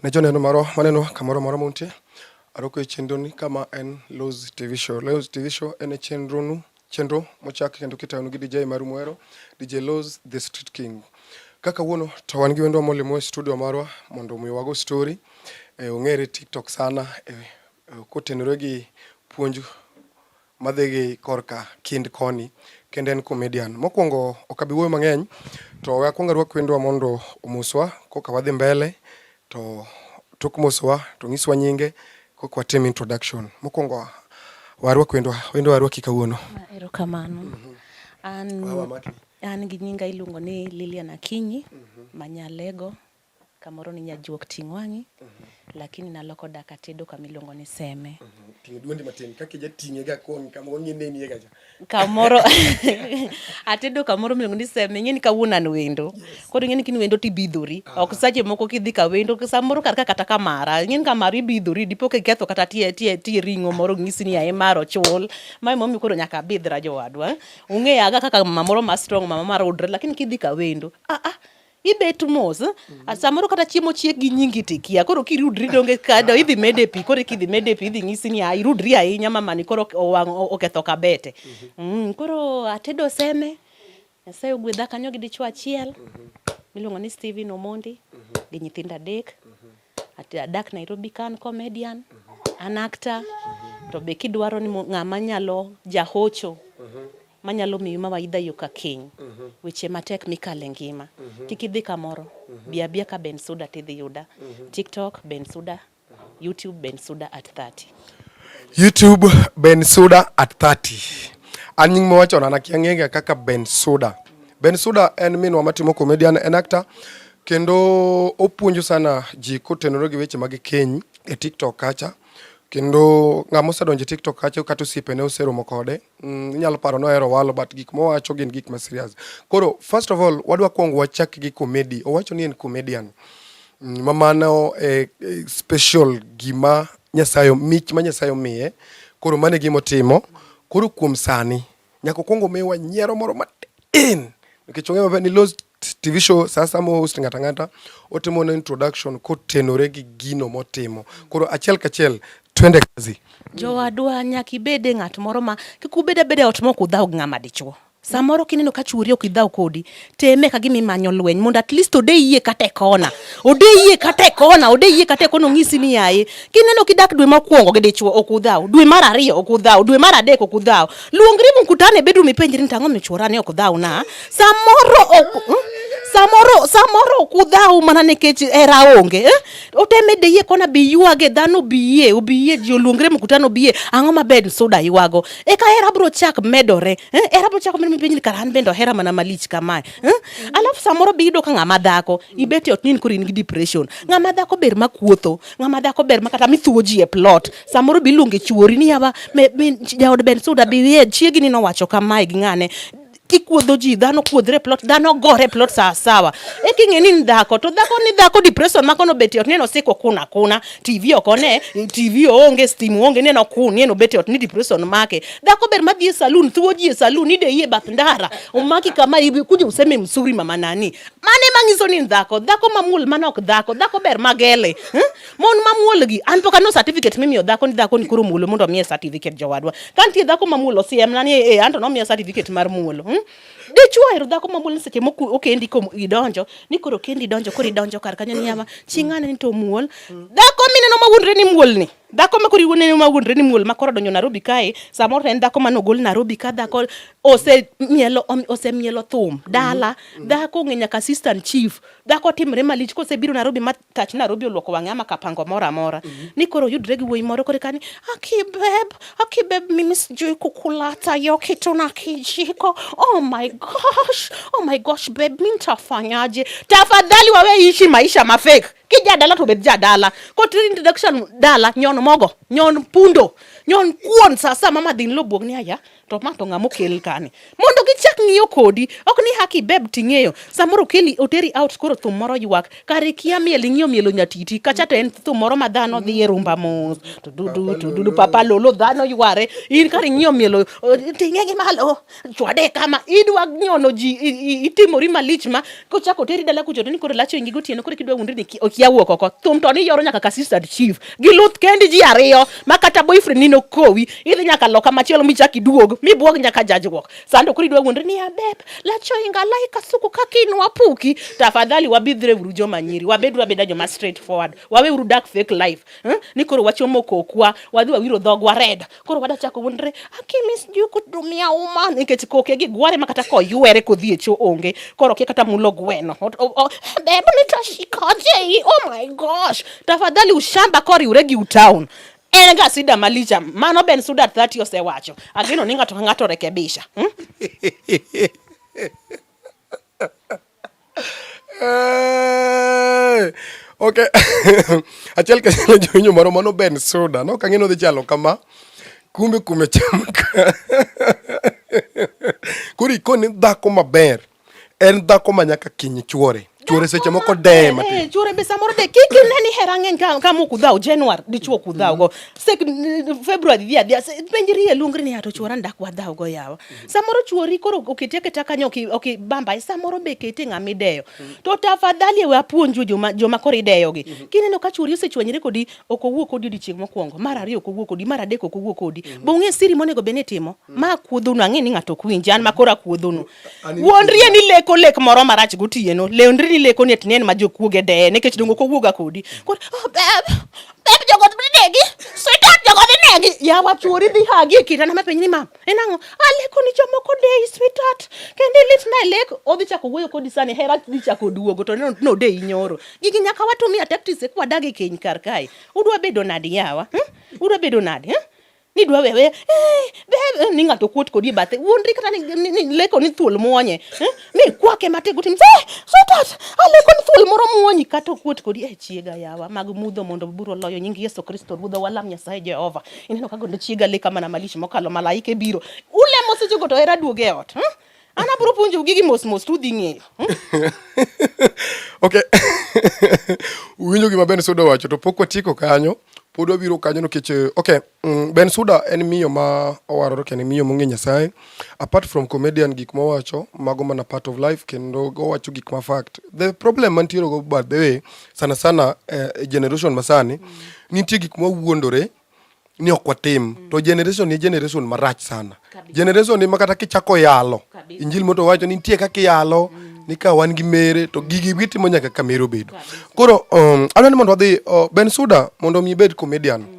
Ne joneno marwa maneno kamoro moro muntie, aroko e chenroni kama en Loz TV Show. Loz TV Show en e chenronu chenro mochak kendo kitayonu gi DJ Maru Mwero, DJ Loz the Street King. Kaka wuono to wan gi wendwa molimo e studio marwa mondo omi wago story e, ong'ere TikTok sana e, e, kotenore gi puonj madhi gi korka kind koni kendo en comedian. Mokwongo ok abi wuoyo mang'eny to we akwong arwak wendwa mondo omoswa koka wadhi mbele to tok mosowa to ng'iswa nyinge koka watim introduction. Mokwongo warwak wendwa, wendwa warwaki kawuono. Erokamano. An, an gi nyinga iluongo ni Lilian Akinyi, mhm. Manyalego. Kamoro ni nyajuok ting' wang'i, lakini naloko dak atedo kama iluongo ni Seme. Ting'e dwondi matin kaka ija ting'e ga koni kama wang'i neni ga cha. Kamoro atedo kamoro miluongo ni Seme, ing'eni kawuono an wendo. Koro ing'eni kin wendo tibidhori. Ok sache moko kidhi ka wendo, samoro kar ka kata kamara. Ing'eni kamara ibidhori, dipo ka iketho kata tie tie tie ring'o moro ng'isi ni aye mar ochul. Mae momiyo koro nyaka abidhra jowadwa. Ung'eyaga kaka mama moro ma strong, mama mar udre, lakini kidhi ka wendo, ah ah, ibet mos mm-hmm. samoro kata chiemo chiek gi nyingi tikia koro kirudri donge kado idhi mede pi koro kidhi mede pi idhi nyisi ni irudri ahinya mamani koro owang' oketho kabete mm-hmm. mm, koro atedo seme nyasaye ogwedha kanyo gi dichwo achiel mm-hmm. miluongo ni Steven Omondi gi nyithindo adek adak Nairobi kan comedian an actor to be kidwaro ni ng'ama nyalo jahocho manyalo miyi mawaidha yo ka kiny, mhm. weche matek mikale ngima. Mhm. Kik idhi kamoro, mhm. bi abia ka Ben Suda tidhi yuda. TikTok Ben Suda, YouTube Ben Suda at 30. YouTube Ben Suda at 30. An nying mowacho na nakia ng'ega kaka Ben Suda. Ben Suda en minwa matimo comedian en actor kendo opuonjo sana ji kotenore gi weche mag keny e TikTok kacha. kendo ng'ama osedonjo e tiktok kacha kata osiepene oseromo kode mm, inyalo paro ni ohero walo but gik mowacho gin gik ma serious koro first of all wadwa kwongo wachak gi comedy owacho ni en comedian mm, ma mano e, e special gima nyasaye mich ma nyasaye omiye koro mane gima otimo koro kuom sani nyaka okwongo miwa nyiero moro matin nikech ong'e maber ni los TV show sasa mo host ngata ngata otimo na introduction kotenore gi gino motimo. Koro achiel kachiel twende kazi. Jowadwa nyaka ibede ng'at moro ma kik ubed abeda ot mok udhaw gi ng'ama dichuo. Samoro kineno ka chwori ok idhaw kodi, teme ka gima imanyo lweny mondo at least ode yie kata e kona. Ode yie kata e kona, ode yie kata e kona ong'isi ni yaye. Kineno kidak dwe mokwongo gi dichuo ok udhaw, dwe mar ariyo ok udhaw, dwe mar adek ok udhaw. Luongri mkutano e bedroom ipenjri ni tang'o michwora ni ok dhaw na. Samoro ok hmm? samoro samoro ok udhaw mana nikech hera onge eh? oteme de yie kona bi ywage dhano bi yie obi yie ji oluongre mkutano bi yie ang'o maber suda ywago eka hera bro chak medore eh? hera bro chak medore mipiny ni kara an bende ohera mana malich kamae eh? alafu samoro bi yudo ka ng'ama dhako ibet e ot nini koro in gi depression ng'ama dhako ber ma kuotho ng'ama dhako ber ma kata mithuwo ji e plot samoro bi luonge chuori ni yawa jaod ben suda bi yie chiegi ni nowacho kamae gi ng'ane kikuodho ji dhano kuodhre plot dhano gore plot sawa sawa e king'e ni ndhako to dhako ni dhako depression mako no beti ot neno siko kuna kuna tv oko ne tv onge steam onge neno kun neno beti ot ni depression make dhako ber madhi e saloon thuo ji e saloon ni de yie bath ndara umaki kama ibi kuja useme msuri mama nani mane mangiso ni ndhako dhako mamul manok dhako dhako ber magele hmm? Mon mamuol gi an pok aneno certificate mimiyo dhako ni dhako ni koro muolo mondo omiye certificate jowadwa. Ka nitie dhako mamuolo siem na ni e eh, anto nomiya certificate mar muolo. Hmm? Dichwo ero dhako mamuol ni seche moko okendi ko idonjo ni koro kendi donjo koro idonjo kar kanyo ni yama chingane ni to muol. Dhako mineno mawuondre ni muol ni. Dhako ma koro iwuondre ni mawuondre ni muol ma koro donjo Nairobi kae samoro en dhako mane ogol Nairobi ka dhako ose mielo ose mielo thum dala. Dhako ng'e nyaka assistant chief. Dhako timre malich kosebiro Nairobi ma tach Nairobi oluoko wang'e ama kapango moro amora mm -hmm. ni koro yudre gi wuoyi moro kore kani akibeb akibeb mimi sijui kukulata yo kitu na kijiko oh my gosh oh my gosh beb mi ntafanyaje tafadhali wawe ishi maisha mafek kija dala to bed ja dala ko to introduction dala nyon mogo nyon pundo nyon kuon sasa mama dhin lo buog ni aya to ma to ng'ama okel kani mondo gichak ng'iyo kodi ok ni haki beb ting'eyo samoro keli oteri out koro thum moro ywak kare kia miel ing'iyo mielo nyatiti kacha to en thum moro ma dhano dhi e rumba mos to dudu to dudu papa lolo dhano yware in kare ing'iyo mielo ting'e gi malo chwade kama idwa nyono ji itimori malich ma kochako oteri dala kuchoto ni koro lacho ingi gotieno koro kidwa wundri ni okia wuok oko thum to ni yoro nyaka ka sister chief gi luth kendi ji ariyo ma kata boyfriend ni nokowi idhi nyaka loka machielo michak iduog mibuog nyaka jajruok sando koro idwa wundri ni abeb lacho inga lai kasuku kakinwa puki tafadhali wabidhre uru joma nyiri wabed wabeda joma straight forward wawe uru dark fake life hmm? ni koro wachomo kokwa wadhi wawiro dhogwa red koro wada chako wundre akimis ju kutumia uma nikech koke gi gware makata ko ywere kodhi e cho onge koro kia kata mulo gweno bebu ni tashikoje i oh my gosh tafadhali ushamba koriwre gi utown en ga sida malicha mano ben suda 30 osewacho ageno ni ng'ato ka ng'ato rekebisha hmm? ok achiel kachiel jowinjo moro mano ben suda nok ang'e nodhi chalo kama kumbe kume chamka koro ikone dhako maber en dhako ma nyaka kiny chuore chuore seche moko deye matin eh, chuore be samoro de kik ine ni hera ng'eny ka ka mok udhaw january dichuo kudhaw go sek february dhi adhiya penjri e lungri ni ato chuora ndak wadhaw go yawa samoro chuori koro oketi aketa kanyo okibamba e samoro be kete ng'ama ideyo mm. to tafadhali ewe apuonju joma, joma koro ideyogi mm -hmm. kineno ka chuori osechwanyre kodi ok owuo kodi odiochieng' mokwongo mar ariyo ok owuo kodi mar adek ok owuo kodi mm -hmm. be ung'e siri monego bed ni timo mm -hmm. ma akuodhonu ang'e ni ng'ato ok winji an ma koro akuodhonu wuondrie ni leko lek moro marach gotieno leondri ni leko ni atinen ma jokuoge deye nikech dongo ok owuoga kodi mm. koro oh, beb beb jogo negi sweetheart jogo negi yawa chuori dhi hagi e kitanda mapenj ni mama En ang'o? Aleko ni jomoko deyi sweetheart. Kendo ilit na lek odhi chako wuoyo kodi sani hera dhi chako duogo to no, no deyi nyoro. Gigi nyaka watumia tactics e kwadagi keny kar kae. Udwa bedo nadi yawa? Hmm? Udwa bedo nadi? Hmm? ni dwa wewe eh, be, eh, ni ng'ato kuot kodi e bathe wuondri kata ni, ni, ni leko ni thuol mwonye eh? mi kwake matego ti mzee sweetheart aleko ni thuol moro muonyi kata okuot kodi e chiega yawa mag mudho mondo buro loyo nying Yesu Kristo ruodha walam Nyasaye Jehova ineno kago ndo chiega leka mana malish mokalo malaika e biro ulemo seche go to era duoge e ot hmm? ana bro puonjo gigi mos mos tu dhi ng'eyo hmm? okay winjo gima Ben Sudo wacho to pok watieko kanyo pod wabiro kanyo nikech eh, okay Mm, ben Suda en miyo ma owarore kendo miyo mong'e Nyasaye. Apart from comedian gik mowacho mago mana part of life kendo owacho gik ma fact. The problem mantiere go by the way sana sana eh, e generation masani mm. nitie gik ma wuondore ni ok watim mm. to generation ni generation marach sana. Kabisa. Generation ni makata kichako yalo. Kabisa. Injili moto wacho ni nitie kaka yalo mm. ni ka wan gi mere to gigi gitimo nyaka ka mere obedo. Koro um, adwa ni mondo wadhi uh, Ben Suda mondo mi bed comedian. Mm.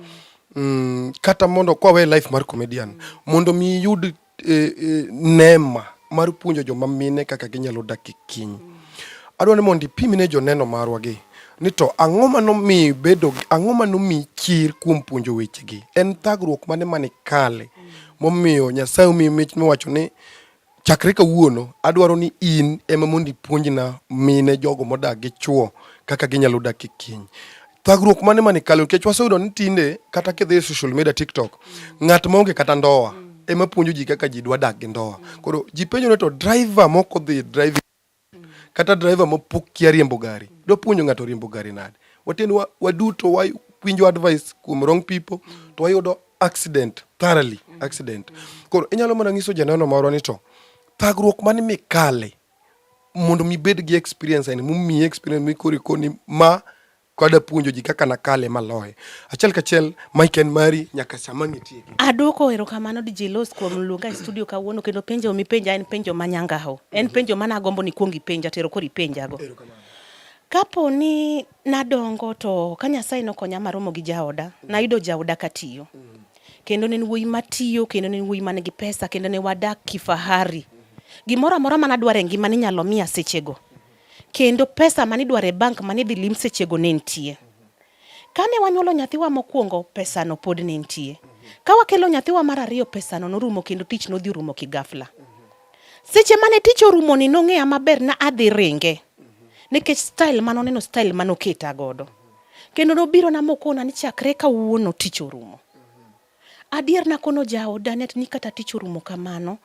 mm, kata mondo kwa we life mar comedian mondo mi iyud eh, eh, neema mar puonjo joma mine kaka ginyalo dak e kiny adwa ni mondo ipimne joneno marwa gi ni to ang'o ma nomi bedo gi- ang'o ma nomi chir kuom puonjo wechegi en thagruok mane mane kale momiyo nyasaye omiyi mich miwacho ni Chakre kawuono, adwaro ni in ema mondo ipuonjna mine jogo modak gi chwo kaka ginyalo dak e keny. Thagruok mane mane kalo nikech waseyudo ni tinde kata kidhi e social media TikTok, ng'at maonge kata ndoa ema puonjo ji kaka ji dwa dak gi ndoa. Koro ji penjore to driver mok odhi driving kata driver mapok kia riembo gari dwa puonjo ng'ato riembo gari nade waten waduto wa winjo advice kuom wrong people to wayudo accident thoroughly accident koro inyalo mana nyiso janeno marwa ni to thagruok mane mikale mondo mibed gi experience aini mumiyi experience mikori koni ma kwada puonjo ji kaka nakale maloye achiel kachiel mike en mari nyaka sama nitie adwoko erokamano DJ Los kuom luonga e studio kawuono kendo penjo mipenja en penjo manyangaho en mhm. penjo mana agombo ni kuong ipenja tero kori penjago kapo ni nadongo to ka Nyasaye nokonya maromo gi jaoda mhm. nayudo jaoda katiyo mhm. kendo ne wuoyi matiyo kendo ne wuoyi man gi pesa kendo ne wadak kifahari gimoro amora mana dware ngima ni nyalo miya sechego kendo pesa mane idwaro e bank mane idhi lim sechego ne nitie. Kane wanyuolo nyathiwa mokwongo, pesano pod ne nitie. Ka wakelo nyathiwa mar ariyo, pesano norumo kendo tich nodhi orumo kigafla. Seche mane tich orumo ni nong'eya maber na adhi ringe nikech style mane oneno style mane oketa godo. Kendo nobirona mokona ni chakre kawuono tich orumo. Adier nakono jawo Danet ni kata tich orumo kamano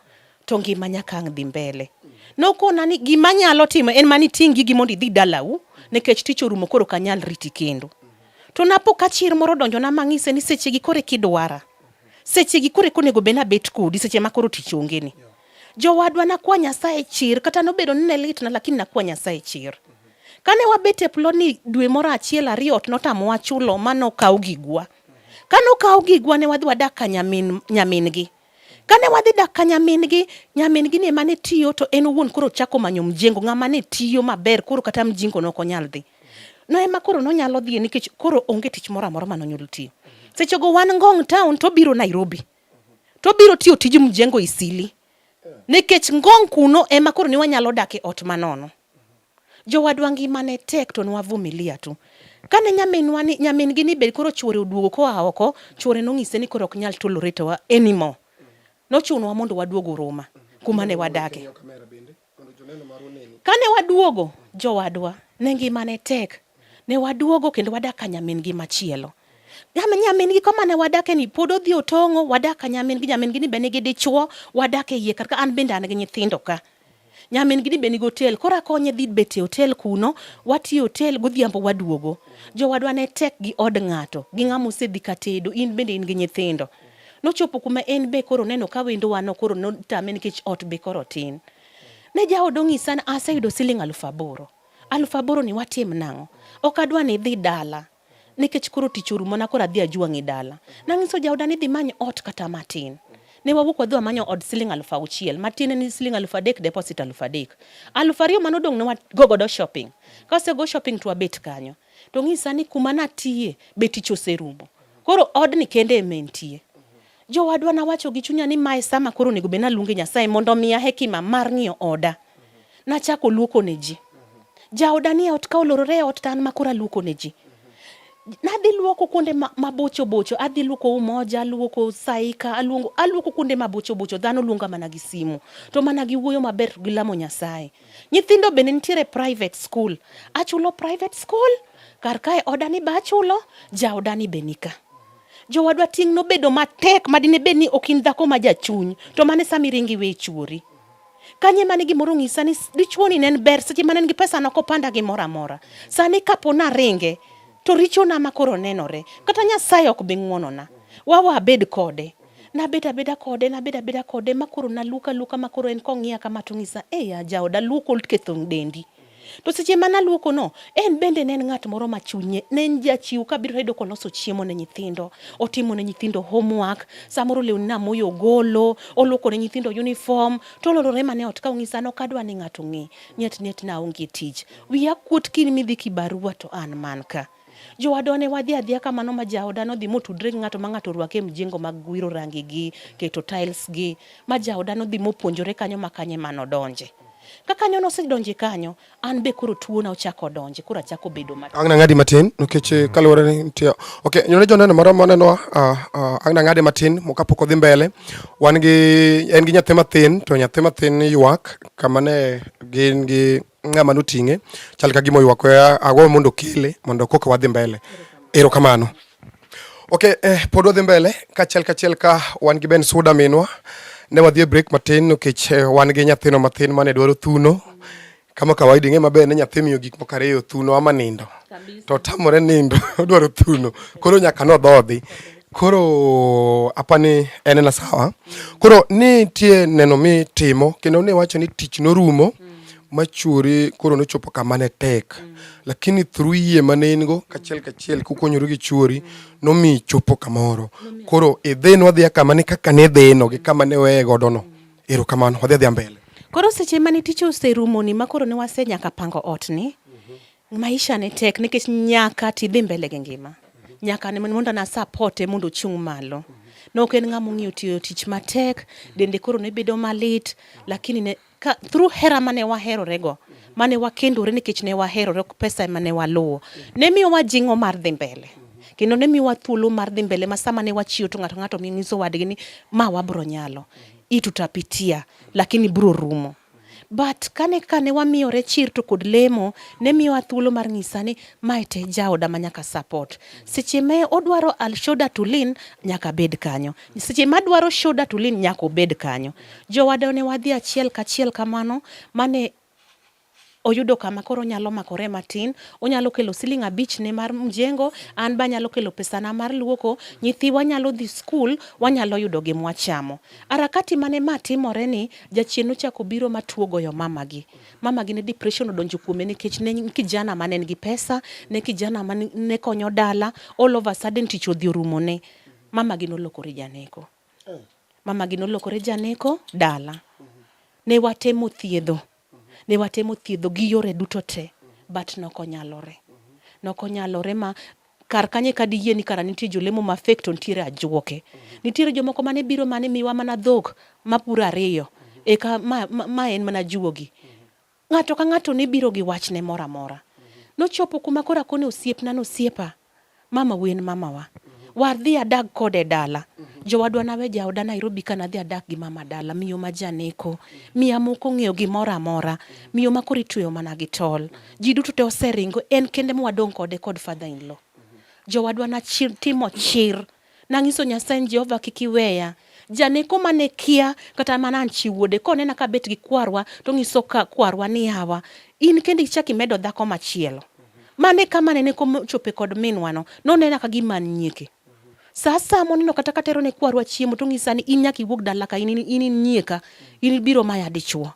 to ngima nyaka ang' dhi mbele. Nokona ni gima nyalo timo en mani ting' gigi mondo idhi dalau nikech tich orumo koro kanyal riti kendo. To napo ka chir moro donjo na mang'ise ni seche gi kore kidwara. Seche gi kore konego bena bet kodi seche ma koro tich onge ni. Jowadwa nakwa Nyasaye chir kata nobedo ni ne litna lakini nakwa Nyasaye chir. Kane wabet e plodni dwe moro achiel ariyo ot notamowa chulo ma nokaw gigwa. Kane okawo gigwa ne wadhi wadak ka nyamin nyamin-gi. Kane wadhi dak ka nyamin-gi, nyamin-gi ne mane tiyo to en owuon koro chako manyo mjengo ng'ama ne tiyo maber koro kata mjingo ne ok onyal dhi. No ema koro nonyalo dhiye nikech koro onge tich moro amora mane onyalo tiyo. Sechego wan Ngong town to obiro Nairobi. To obiro tiyo tij mjengo Isili. Nikech Ngong kuno ema koro ne wanyalo dak e ot manono. Jowadwa ngima ne tek to nwavumilia tu. Kane nyaminwa ni nyamin gi ni be koro chuore oduogo koa oko, chuore nong'ise ni koro ok nyal tolerate wa anymore. Nochunowa mondo waduogo Ruma kuma ne wadake. Kane waduogo jowadwa ne ngima ne tek. Ne waduogo kendo wadak ka nyamin gi machielo. Nyamin gi kama ne wadake ni pod odhi otong'o, wadak ka nyamin gi nyamin gi ni be nigi dichuo, wadak e iye kar ka an bende an gi nyithindo ka. nyamin gini be nigi hotel koro akonye dhi bet e hotel kuno watiyo hotel godhiambo waduogo jowadwa ne tek gi od ng'ato gi ng'ama osedhi katedo in bende in gi nyithindo nochopo kuma en be koro neno ka wendo wano koro notame nikech ot be koro tin ne jaod ong'isa aseyudo siling alufu aboro alufu aboro ni watim nang'o ok adwa ni idhi dala nikech koro tich orumo na koro adhi ajwang' e dala. Nang'iso jaoda ni dhi many ot kata matin. Ne wawuok wadhi wamanyo od siling aluf auchiel matiende ni siling aluf adek deposit aluf adek. Aluf ariyo mane odong' ne wago godo shopping. Kase go shopping to wabet kanyo. To ng'isa ni kuma natiye be tich oserumo. Koro odni kende ema entie. Jowadwa nawacho gi chunya ni mae sama koro onego bed naluonge Nyasaye mondo omiya hekima mar ng'iyo oda. Nachako luoko ne ji. Jaoda ni e ot ka olorore e ot to an ma koro aluoko ne ji. Nadhi luoko kuonde ma- mabocho bocho, adhi luoko Umoja, aluoko Saika, aluongo, aluoko kuonde mabocho bocho. Dhano luonga mana gi simu, to mana gi wuoyo maber gi lamo Nyasaye. Nyithindo bende nitiere private school, achulo private school, kar kae oda ni be achulo, jaoda ni be nika. Jowadwa, ting' nobedo matek ma dine bed ni ok in dhako ma jachuny, to mane sami ringi we chuori. Kanye mane gimoro ng'isa ni dichuoni ne en ber seche mane en gi pesa noko panda gi mora mora. Sani kapo na ringe to richona ma koro nenore. Kata Nyasaye ok bi ng'wonona. Wawa abed kode. Nabed abeda kode, nabed abeda kode ma koro naluka luka ma koro en kong'iya kama to ng'isa, "Eya jaoda luoko ketho dendi." To seche ma naluokono, en bende ne en ng'at moro ma chunye ne en jachiw kabiro yudo koloso chiemo ne nyithindo, otimo ne nyithindo homework, samoro lewni namoyo ogolo, oluoko ne nyithindo uniform, to oloro rema ne ot ka ong'isa nok adwa ni ng'ato ng'e. Nyet nyet na onge tich. Wiya kuot kiny midhi kibarua to an man ka. Jowadwa ne wadhi adhiya kamano ma jaoda nodhi motudre gi ng'ato ma ng'ato orwake e mjengo mag wiro rangi gi keto tiles gi ma jaoda nodhi mopuonjore kanyo ma kanye ma nodonje. Ka kanyo nosedonje kanyo, an be koro tuona ochako donje, koro achako bedo matin. Agna ng'adi matin nikech eh, kaluwore ni nitie okay, nyone joneno moro moneno uh, ah, uh, ah, agna ng'adi matin moka pok odhi mbele. Wan gi en gi nyathi mathin to nyathi mathin ywak kama ne gin gi ng'ama noting'e chal ka gima oywak agwa mondo kele mondo koka wadhi mbele erokamano okay eh, pod wadhi mbele kachiel kachiel ka wan gi ben suda minwa ne wadhi e break matin nikech eh, wan gi nyathino matin mane dwaro thuno kama kawaida ing'e maber ni nyathi miyo gik moko ariyo thuno ama nindo to tamore nindo odwaro thuno koro nyaka nodhodhi Koro apani en na sawa. Koro ni tie neno mi timo kendo ne wacho ni tich norumo machuri koro nochopo kama ne tek lakini through yie mane in go kachiel kachiel kukonyoru gi churi nomi chopo kamoro koro idhino adhiya kama ni kaka ne dhino gi kama ne weye godo no erokamano wadhi adhiya mbele koro seche mane tich oserumoni ma koro ne wase nyaka pango ot ni Maisha ne tek nikech nyaka tidhi mbele gi ngima. Nyaka mondo na support e mondo ochung' malo. Ne ok en ng'ama ong'iyo tiyo tich matek, dende koro ne bedo malit, lakini ne ka through hera mane waherorego mane wakendore nikech ne waherore ok pesa ema ne waluwo ne miyo wajing'o mar dhi mbele kendo ne miyo wathuolo mar dhi mbele ma sama ne wachiyo to ng'ato ng'ato nyiso wadgi ni ma wabro nyalo hii tutapitia lakini bro rumo But kane kane wamiyore chir to kod lemo ne miyowa thuolo mar nyisa ni mae te jaoda ma nyaka support. Seche ma odwaro al shoulder to lean nyaka bed kanyo. Seche ma adwaro shoulder to lean nyaka obed kanyo. Jowada ne wadhi achiel kachiel kamano mane oyudo kama koro onyalo makore matin, onyalo kelo siling abich ne mar mjengo, an ba nyalo kelo pesana mar luoko, nyithiwa nyalo dhi skul, wanyalo yudo gi mwachamo. Arakati mane ma timore ni jachien nochako biro matuo goyo mamagi. Mamagi ne depression odonjo kuome nikech ne kijana mane en gi pesa, ne kijana mane ne konyo dala, all of a sudden tich odhi orumo ne. Mamagi nolokore janeko. Eh. Mamagi nolokore janeko dala. Mhm. Ne watemo thiedho Ne watemo thiedho gi yore duto te but nokonyalore. Nokonyalore ma kar kanye ka diyie ni kara nitie jolemo ma fake to nitiere ajuoke. Nitiere jomoko mane biro mane miwa mana dhok mapuro ariyo eka ma, ma, ma en mana juogi. Ng'ato ka ng'ato ne biro gi wachne moro amora. Nochopo kuma koro akone osiepna nosiepa. mama wi en mamawa wadhi adag kode dala jowadwa nawe jaoda Nairobi ka nadhi adak gi mama dala miyo ma janeko miya moko ng'eyo gimoro amora miyo ma koro itweyo mana gi tol ji duto te oseringo en kende mwadong' kode kod father in law jowadwa na chir, timo chir Nanyiso Nyasaye ni Jehova kik iweya. Janeko mane kia kata mana an chi wuode konena kabet gi kwarwa to nyiso ka kwarwa ni yawa in kendo ichak imedo dhako machielo. Mane kama nene kochope kod minwa no nonena ka gima an nyieke. Sa asaya moneno kata katero ne kwarwa chiemo to ng'isa ni in nyaka iwuog dala ka in in in nyieka in biro maya dichuo.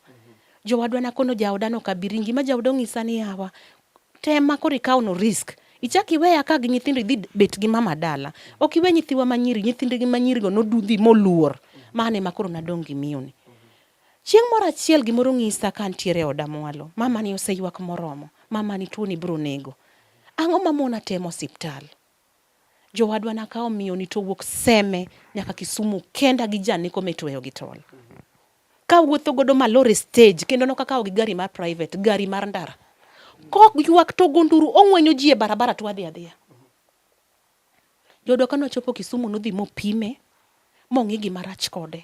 Jowadwa nakono jaoda no kabiringi ma jaoda ong'isa ni yawa Tema koro ikaw no risk. Ichak iweya ka gi nyithindo idhi bet gi mama dala. Ok iwe nyithiwa manyiri, nyithinde gi manyiri go nodudhi moluor. Mane ma koro nadong' gi miyoni. Chieng' moro achiel gimoro ng'isa ka antiere e oda mwalo. Mama ni oseywak moromo. Mama ni tuo ni biro nego. Ang'o ma mona temo osiptal? Jowadwa nakawo miyoni to wuok Seme nyaka Kisumu kenda gi janeko mitueyo gi tol. Ka wuotho godo malor e stage kendo nokakawo gi gari mar private, gari mar ndara. Kok ywak to gonduru ong'wenyo ji e barabara to adhi adhiya. Jodo kanochopo Kisumu nodhi mopime mong'i gima rach kode.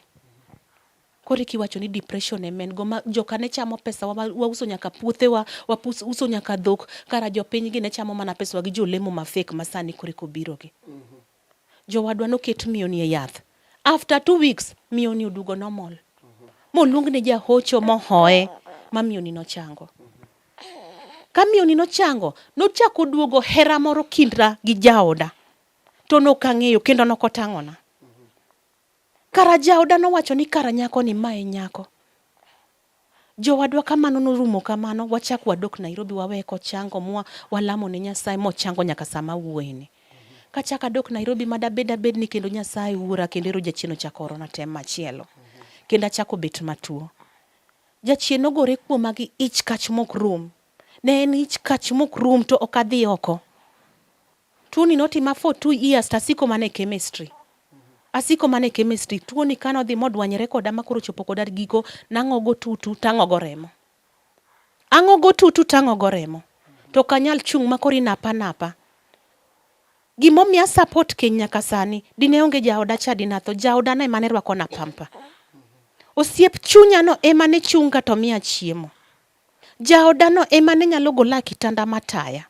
Koro eki wacho ni depression ema en go ma joka ne chamo pesa wa, wauso nyaka puothewa, wauso nyaka dhok, kara jopiny gi ne chamo mana pesa wa gi jolemo ma fake ma sani koro eko biro gi. Mm -hmm. Jowadwa noket miyo ni e yath. After two weeks miyo ni odugo normal. Mm -hmm. Moluong ne jahocho mohoye ma miyo ni nochango. Mm -hmm. Ka miyo ni nochango, nochako duogo hera moro kindra gi jaoda. To nokang'eyo kendo nokotang'ona. Kara jaoda nowacho ni kara nyako ni ma e nyako. Jowadwa kamano norumo kamano, wachak wadok Nairobi waweye kochango mwa walamo ne Nyasaye mochango nyaka sama wuoyini. Kachak adok Nairobi ma dabed abed ni kendo Nyasaye wuora kendo ero jachien ochako orona tem machielo. Kendo achako bet matuo. Jachien nogore kuoma gi ich kach mok rum. Ne en ich kach mok rum to ok adhi oko. Tuoni notima for two years to asiko mana e chemistry. Asiko mana e chemistry. Tuoni kane odhi modwanyre koda ma koro ochopo koda giko, nang'ogo tutu tang'ogo remo. Ang'ogo tutu tang'ogo remo. To ok anyal chung' ma koro inapa napa. Gimomiyo a support keny nyaka sani, dine onge jaoda cha dinatho. Jaodano ema ne rwakona pamper. Osiep chunyano ema ne chunga to miya chiemo. Jaodano ema ne nyalo gola e kitanda mataya.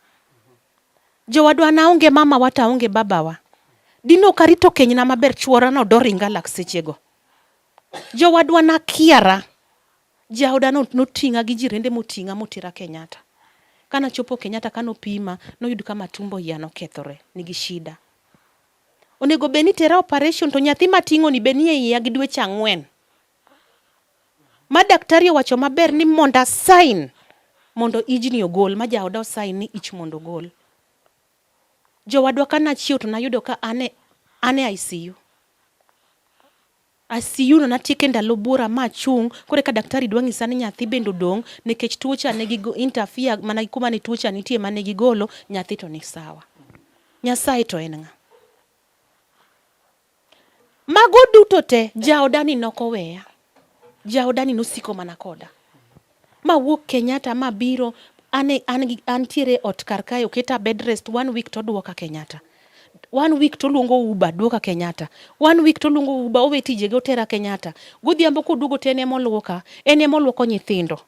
Jowadwa naonge mamawa to aonge babawa. Dine ok arito kenyna maber chuora no doringa lak sechego. Jowadwa nakiara. Jaoda no noting'a gi jirende moting'a motera Kenyatta. Kana chopo Kenyatta kano pima noyud kama tumbo iya nokethore nigi shida. Onego bed ni tera operation to nyathi mating'o ni be nie iya gi dweche ang'wen. Ma daktari owacho maber ni mondo asain mondo ijni ogol, ma jaoda osain ni ich mondo ogol. Jowadwa ka nachiew to nayudo ka ane ane ICU. ICU no natieke ndalo buora ma achung' kore ka daktari dwa ng'isa ni nyathi bende odong' nikech tuocha ne gi interfere mana gi kuma ne tuocha nitie mane gigolo nyathi to ni sawa. Nyasaye to en ng'a? Mago duto te jaodani nokoweya, jaodani nosiko mana koda. Ma wuok Kenyatta ma biro ane an gi antiere ot kar kae oketa bed rest one week to duoka Kenyatta. One week to luongo Uber duoka Kenyatta. One week to luongo Uber owe tijege otera Kenyatta. Godhiambo koduogo to en emoluoka, en emoluoko nyithindo.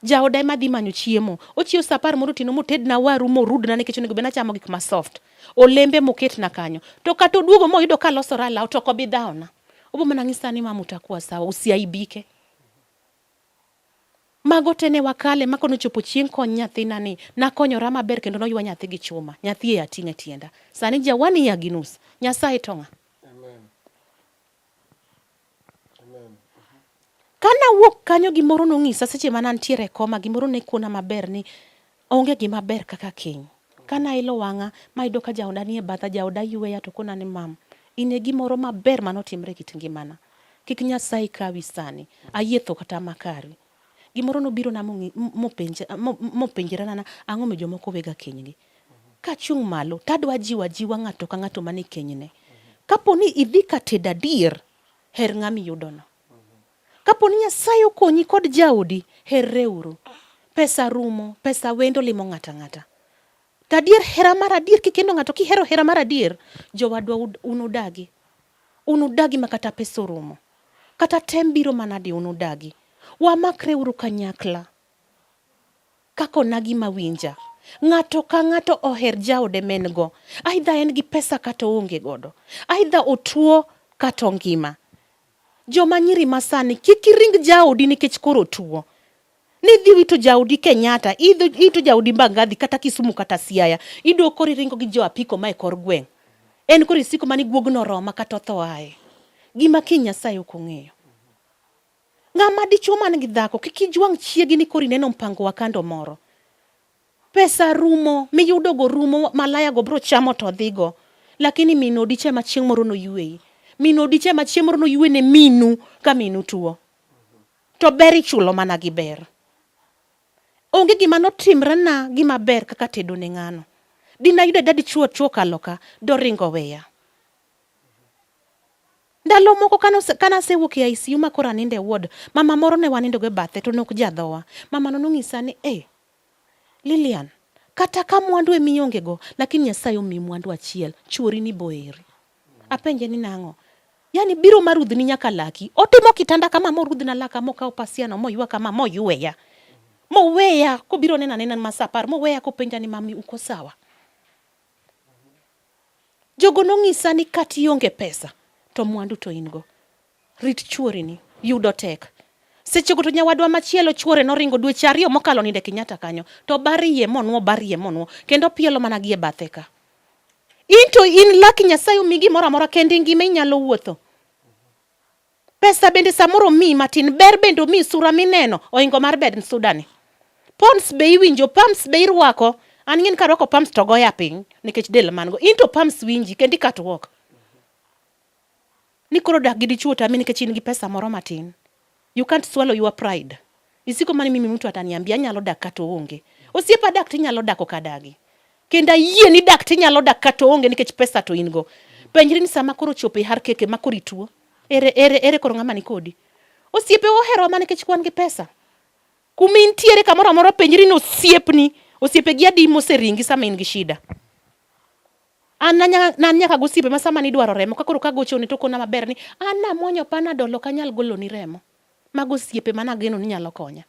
Jaoda ema dhi manyo chiemo. Ochiew saa apar moro otieno motedna waru morudna nikech onego bed nachamo gik ma soft. olembe moketna kanyo to kata oduogo moyudo ka alosora alaw to ok obi dhawona obo mana ng'isa ni mama utakuwa sawa usiaibike mago te ne wakale ma kono chopo chieng' kony nyathina ni nakonyora maber kendo noywa nyathi gi chuma nyathi e ating'a tienda sani jawani ya ginus nyasaye to ng'a Ka nawuok kanyo gimoro nong'isa seche ma nantiere e koma, gimoro ne kona maber ni onge gima ber kaka keny. Ka nailo wang'a mayudo ka jaoda nie batha, jaoda yweya to kona ni mam, in e gimoro maber manotimre e kit ngimana. Kik Nyasaye kawi sani, ayie tho kata makari. Gimoro nobirona mopenjrana ang'o mi jomoko wega kenygi. Kachung' malo to adwa jiwo ajiwa ng'ato ka ng'ato man e kenyne. Kapo ni idhi ka tedo adier, her ng'ama iyudono. Kapo ni Nyasaye okonyi kod jaodi, herreuru. Pesa rumo, pesa wendo limo ng'ato ang'ata. To adier hera mar adier kikendo ng'ato kihero hera mar adier, jowadwa unudagi. Unudagi ma kata pesa orumo. Kata tem biro manadi unudagi. Wamakreuru kanyakla. Kaka onagi mawinja. Ng'ato ka ng'ato oher jaode men go. Aidha en gi pesa kata oonge godo. Aidha otuo kata ongima. Joma nyiri masani kik iring jaodi nikech koro otuo. Nidhi wito jaodi Kenyatta, ito jaodi Mbagathi kata Kisumu kata Siaya. Iduogo koro iringo gi jo apiko mae kor gweng'. En koro isiko mani guogno oroma kata otho aye. Gima kiny Nyasaye ok ong'eyo. Ng'ama dichwo man gi dhako kik ijwang' chiegi ni koro ineno mpango wa kando moro. Pesa rumo miyudogo rumo malayago biro chamo to dhigo. Lakini min odich ema chieng' moro noyweyi. Min odich ema chieng' moro noywe ne minu ka minu tuo. To ber ichulo mana gi ber. Onge gima notimre na gima ber kaka tedo ne ng'ano. Dinayude dadichuo chuo kaloka doringo weya. Ndalo moko kane asewuok e ICU ma koro anindo e ward, mama moro ne wanindogo e bathe to ne ok jadhowa. Mamano nonyisa ni, "Ee, Lilian, kata ka mwandu ema iongego, lakini Nyasaye omiyi mwandu achiel, chwori ni boeri." Apenje ni nang'o? Yaani biro ma rudhni nyaka laki. Otimo kitanda kama morudhna laka mokawo pasiano moywa kama moyweya. Moweya kobiro nena nena ma saa apar moweya kopenja ni mami uko sawa? Jogo nong'isa ni kata ionge pesa to mwandu to in go. Rit chuorini, yudo tek. Sechego to nyawadwa machielo chuore noringo dweche ariyo mokalo ninde Kenyatta kanyo to barie monwo barie monwo kendo pielo mana gie bathe ka. Into in laki Nyasaye omi gimoro amora kendo ingima inyalo wuotho. Pesa bende samoro omiyi matin, ber bende omiyi, sura mineno oingo mar bed sudani. Pons be iwinjo, pams be irwako. An ng'in karwako pams to goya piny nikech del man go. In to pams winji kendo ikatwok. Ni koro dak gi dichuo tami nikech in gi pesa moro matin. You can't swallow your pride. Isiko mani mimi mtu ataniambia anyalo dak kata onge. Osiepa dak tinyalo dak ok adagi. Kendo ayie ni dak tinyalo dak kata onge nikech pesa to in go. Penjri ni sama koro chopo e har keke ma koro ituo. Ere ere ere koro ng'ama ni kodi. Osiepe ohero mana nikech kwan gi pesa. Kuma intiere kamoro amora penjri ni osiepni, osiepe gi adi moseringi sama in gi shida. An nyaka gosiepe ma sama nidwaro remo ka koro kagochone to kona maber ni an namuonyo panadol ok anyal goloni remo. Mago osiepe ma nageno ni nyalo konya.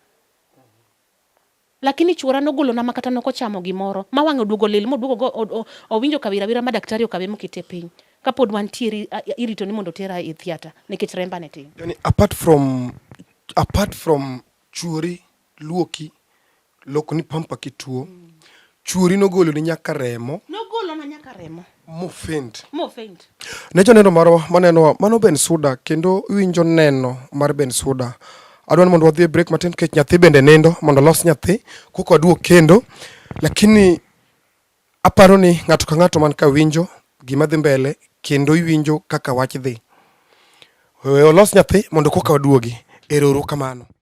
Lakini chuora nogolona ma kata nokochamo gimoro ma wang'e oduogo lil moduogo go o- o- owinjo kawira wira ma daktari okawe mokete piny. Kapod wantiere i- i- irito ni mondo otera e theatre nikech remba ne tin. Yani apart from apart from chuori luoki lokoni pampa kituo mm. chuori nogoloni nyaka remo nogolona nyaka remo mofend mofend ne joneno marwa manenowa mano ben suda kendo winjo neno mar ben suda adwa ni mondo wadhi e break matin kech nyathi bende nindo mondo los nyathi koko aduok kendo lakini aparo ni ng'ato ka ng'ato man ka winjo gima dhi mbele kendo iwinjo kaka wach dhi olos nyathi mondo koka waduogi erouru kamano